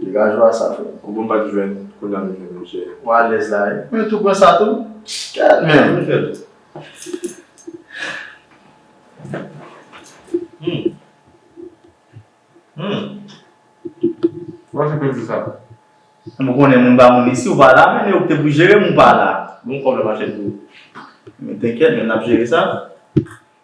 Vilageois sa fre. Ou bon bat jwenn kounya nou jwenn misye. Ou alez la wi. Mwen tou pran sa tou. Gad menm. Mwen fel. Humm. Humm. Ou achte penti sa. Mwen konnen moun ba moun isi ou pa la men e ou k te pou jerem ou pa la. Bon kob la machè tou. Men tenkyet men nap jere sa.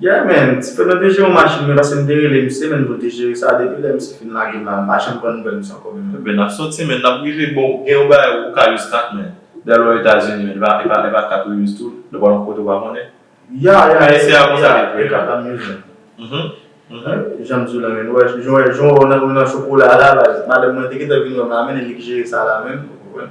Yeah man, ti frè mwen te jere yon machin men pase m te rele misye menn pou l te jere sa depi lè misye fin lage m pa janm pran nouvèl misye ankò menn. Ebyen nap soti menn nap rive bon gen yon bagay ou ka use kat menn lè lwa etazini menn epa epa kat ou use tou lè wal yon kote ou pa konnen Yeah yeah yeah yeah yeah e kat la m use menn janm diw la menn ou wè jan wè jan wè w nan chokola a la baz madanm mwen te gentan vin wè m la menn e li k jere sa la menn ou konprann.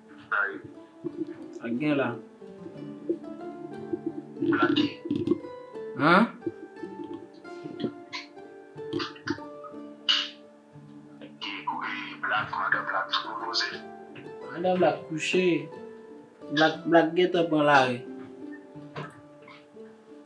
Sak gen la? An? Madan Black kouche. Black gentan pran lari.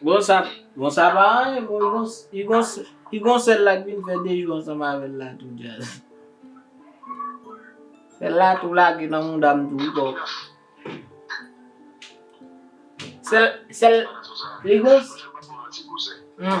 Bon sa bon sa pa anyen bon li gon li gon li gon sèl la k vin fè 2 jou ansanm avèl la tou djazz. Sèl la tou lage nan moudam tou wi boo. Sèl sèl li gon Hum.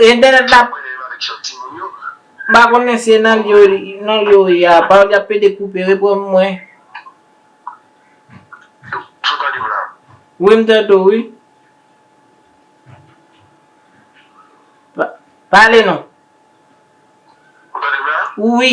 Internet la m pa konnen si e nan nan li yo ye a pa li ap pede koupe repranm mwen. Ou tande m la? Wi m tande w wi. Pale non. Ou tande m la? Wi.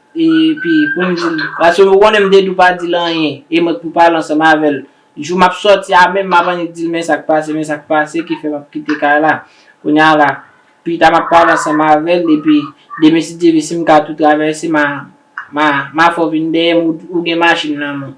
Epi pou m di l, paske ou konnen m te di w pa di l anyen, e mwen k pou pale ansanm avè l. Jou m ap sòti a menm, m ap annik di l men sa k pase, men sa k pase ki fè m ap kite kay la. Kounye a la, pita m ap pale ansanm avè l, epi demen si Dye vle, si m ka tou travèse, m a fè w vin dèyè m, ou gen machin nan men w.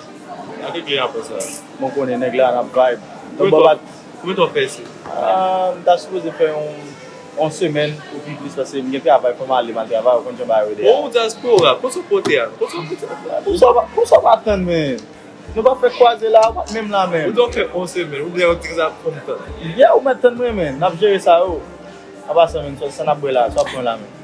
Gade kle a konsa. Mwen konnen nèg la nan vibe. Don Bob ak. Koumen tan w fè isit? M ta sipoze fè yon semèn ou pi plis paske m gen travay fò m ale m al travay ou konn jan bagay yo ye deja. Bon ou dyaspora, kote w pote a? Kote w pote a? Poukisa w pa tann mwen? Nou pa fèk kwaze la, ou pa t menm la menm. Ou di w ap fè yon semèn, ou di yon ti kisa ap fè m tann. Yeah ou mèt tann mwen men, n ap jere sa yo. Anpasan menm, sa n ap bwè la a, sa w ap pran la menm?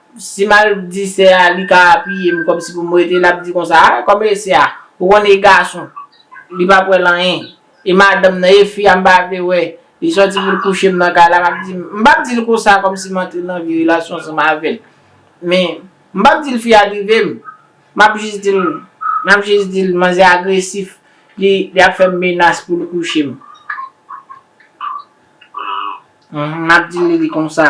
Si m al di sè a li ka piye m kòmsi pou m rete, l ap di konsa, a kòmbe sè a, ou konn e gason, li p ap wè l anyen. E madanm nan, e fi a m pa vle wè, li sòti pou l kouche m nan kay la, m ap di, m p ap di l konsa kòmsi m antre nan vye relasyon ansanm avè l. Men, m p ap di l fi a drive m. M ap jis di l, m ap jis di l manzè a agresif, li ap fè m menas pou l kouche m. M ap di li li konsa.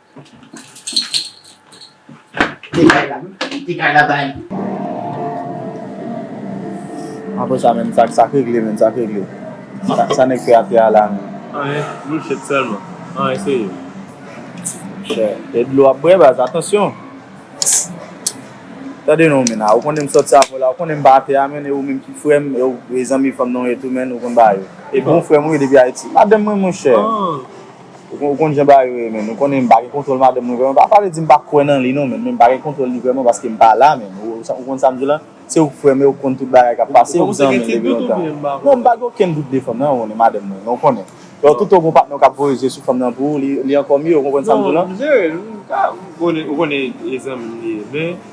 Kite kay la wi, kite kay la bae. Apre sa menm sa sak regle menm sak regle sa nèg fè atè a la menm. Anyen bullshit selman an eseye. Monchè e dlo wap bwè baz atansyon. Tande non menn a ou konnen m sòti avèw la ou konnen m pa atè a menn e ou menm ki frèm e ou zanmi fanm nan ou ye tou menn ou konn bagay yo. E bon frèm ou ye depi ayiti. Madanm mwen monchè. Ou konn jan bagay yo ye menn, ou konnen m pa gen kontwòl madanm mwen vrèman, pa vle di m pa kwè nan li non menn, men m pa gen kontwòl li vrèman paske m pa la menn, ou konn sa m di w la, se ou k frè m e ou k konn tout bagay k ap pase, ou zanmi m depi lontan. Non m pa gen okenn dout de fanm nan, ou konnen madanm mwen, men ou konnen, lè toutan w gen yon patnè w ka ap voye zye sou fanm nan pou ou, li ankò mye, ou konprann sa m di w la? Non m jere l, m ka, ou konnen e zanmi m li ye, men.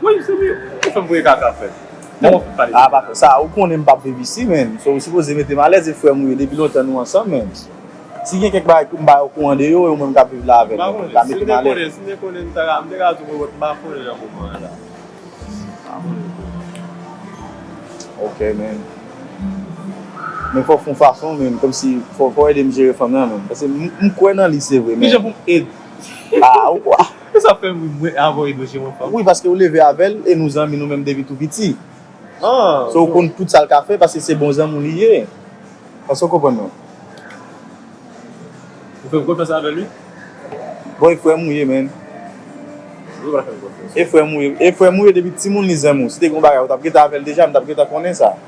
Woy se li ou fem voye kaka frem. Bon a pa fè sa ou konnen m pap viv isi menn so ou sipoze mete m alèz e frè m ou ye depi lontan nou ansanm menn si gen kèk bagay poum bay ou kou andeyo e ou menm kap viv la avèm ou ka mete m alèz. Sim te konnen m te konnen m te ka di w m pa konnen nan moman an la. Ok menn men fòk fon fason menn komsi fòk ou edem jere fanm nan menn paske m kwè nan li se vre men. Kijan pou m ed. Aa ou kwè. Ou sa fèm ri mwen avan edo chen mwen fanm. Wi paske ou leve avèl e nou zanmi nou menm depi tou piti so ou konn tout sal ka fè paske se bon zanmi w li ye èske ou konprann mwen. Ou fèm konfyans avèl wi. Bon e frèm ou ye man. Mwen pa fèl konfyans. E frèm ou ye depi timoun li zanmi w si te gen yon bagay ou tap gentan avèl deja m tap gentan konnen sa.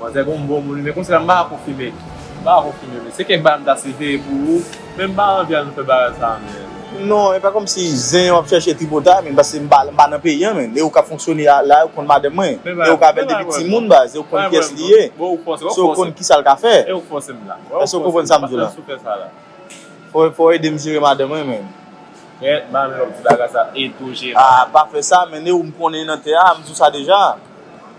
Manzè gonm bon moun wi men konse la m pa ko fime m pa ko fime men se kèk bagay m ta site pou ou men m pa anvi al nou fè bagay sa men. Non epa komsi zen yo ap chache tripotay menn paske m pa nan peyi an menn e ou kap fonksyone la yo konn madanm mwen e ou ka avèl depi timoun baz e ou konn kyès li ye se ou konn kisal ka fè èske ou konprann sam di la fòw edem jere madanm mwen menn aa pa fè sa menn e ou m konnen nan tè a m di w sa deja.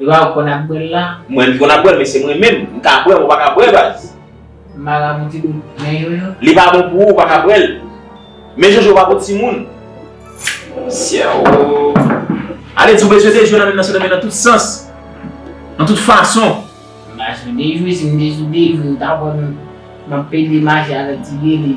Lwa ou konn ap bwèl la. Mwen konn ap bwèl men se mwen menm. M ka bwèl ou paka bwè baz. Marabou ti dout men yo yo. Li pa bon pou ou ou paka bwèl. Men jojo pa pou timoun. Syeoo. Ale di ou bezwen dejwe nan men nan se nan men nan tout sans. Nan tout fason. M pa bezwen dejwe si m te sou dejwe ou ta wè m map pede mache avèk ti gele.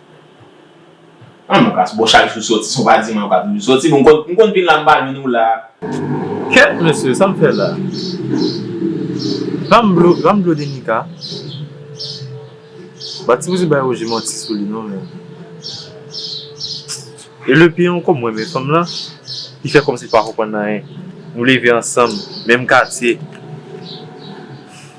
An nou kas bon chak jou soti son pa diman pa toujou soti bon m konn vin la m pa jwenn ou la. Kèt mesye sam fè la. Banm dlo banm dlo denika. Ba ti bouzen bay Roger manti sou li non men. E lepè an kom mwen men fanm lan li fè komsi li pa konprann anyen nou leve ansanm menm katye.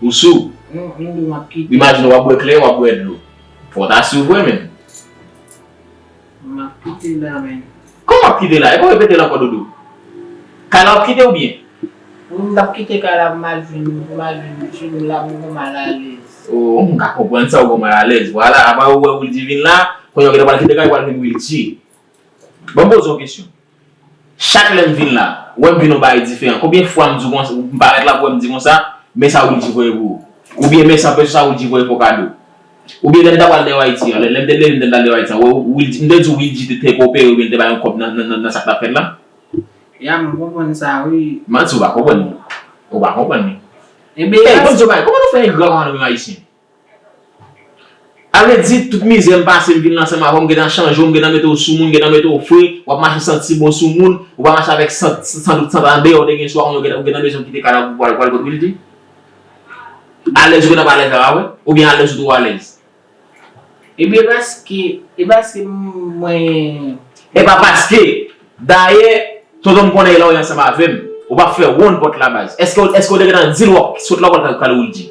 Ou sou? Non, yon dlo map kite. Imajine wap bwè kleren wap bwè dlo. Fò w ta sou vre menn. Map kite la menn. Kòman wap kite la? Epa w repete l ankò dodo? Kay la wap kite ou byen? Wi m pap kite kay la pou mal vin pou mal vin mesye m la pou m gen mal alèz. Oh m ka konprann sa ou gen mal alèz. Vwala apa ou wè Wildy vin la, kounye a ou gentan pral kite kay ou pral vin Wildy. Banm poze w yon kesyon. Chak lèm vin la, wèm vin yon bagay diferan. Konbyen fwa m di w konsa, m parèt la pou wè m di konsa, men sa Wilky voye pou ou. Oubyen men san pèse sa Wilky voye pou w kado. Oubyen lè m ta pral New Haiti an, lè m te leve m te pral New Haiti an, wè Wilky, m te di w Wilky te te koopere oubyen l te bay yon kòb nan sa k t ap fèt la? Ya mwen konprann sa wi. Manti ou pa konprann li. Ou pa konprann li. Enben. Ey bon Dieu bagay, kòman nou fè engra konsa nou menm Ayisyen? Ale di tout mizè m pase m vin lan sanm avè w m gentan chanje w m gentan mete w sou moun m gentan mete w fre w ap mache santi bon sou moun ou pa mache avèk sant san dout sant andeyò te gen sou a ou gentan ou gentan bezwen kite kadav ou pou al pou al kot Wilky alèz ou gentan pa alèz avè mwen oubyen alèz ou twò alèz. Ebyen paske e paske mwen. Epa paske Dayè Tonton m konnen lè w ye ansanm avè m ou pa fè wonn pòt la baz Èske w te gentan di l w ap sot lòk wal pral Wildy.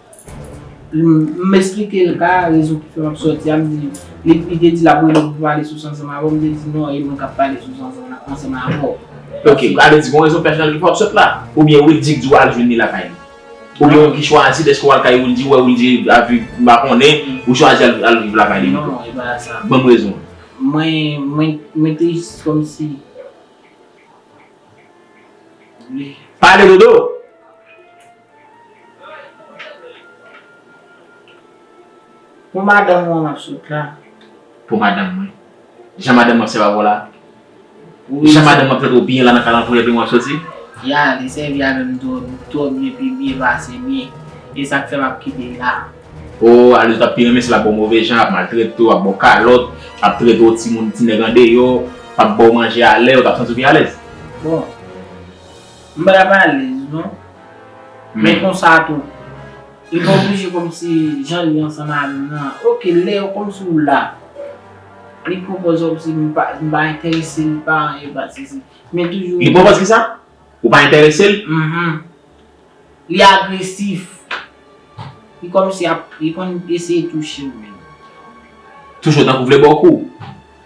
M esplike l ka, rezon ki fè m ap sòti a, m di, li te di l ap rele m pou pale sou Sanzanm avè w, m te di non e mwen k ap pale sou Sanzanm la, ansanm avè w. Ok, sa vle di gon rezon pèsonèl ki fè w ap sot la? Oubyen Wildy k di w al jwenn li lakay li? Oubyen ou ki chwazi dèske w al kay Wildy, ou wè Wildy ap viv, m pa konnen, ou chwazi al viv lakay li pito? Non, e pa sa. Ban m rezon an. Mwen, mwen te jis kòmsi. Pale Dodo! Pou madanm ou an map sot la. Pou madanm mwen. Jan madanm mwen ap sèvi avè w la. Jan madanm mwen ap trete w byen la nan kalanfouy epi mwen ap soti. Ya li sèvi avè m twò byen pi byen pase mwen. E sa k fè map kite l la. O Aldo tap pi renmen si l ap ba w move jan, ap maltrete w, ap ba w kalòt, ap trete w timoun, ti nèg andeyò, ap ba w manje alè, ou tap santi w pi alèz. Bon. M pral alèz non. Men konsa tou. Li pa oblije kòmsi jan li ansanm avè m nan. Ok lè yo konn si w la. Li pwopoz kòmsi m pa entèrese li pa anyen pa sezi. Men toujou. Li pwopoz kisa? Ou pa entèrese l? Mh. Li agresif. Li kòmsi ap li konn eseye touche m menm. Touche w tankou vle ba w kou?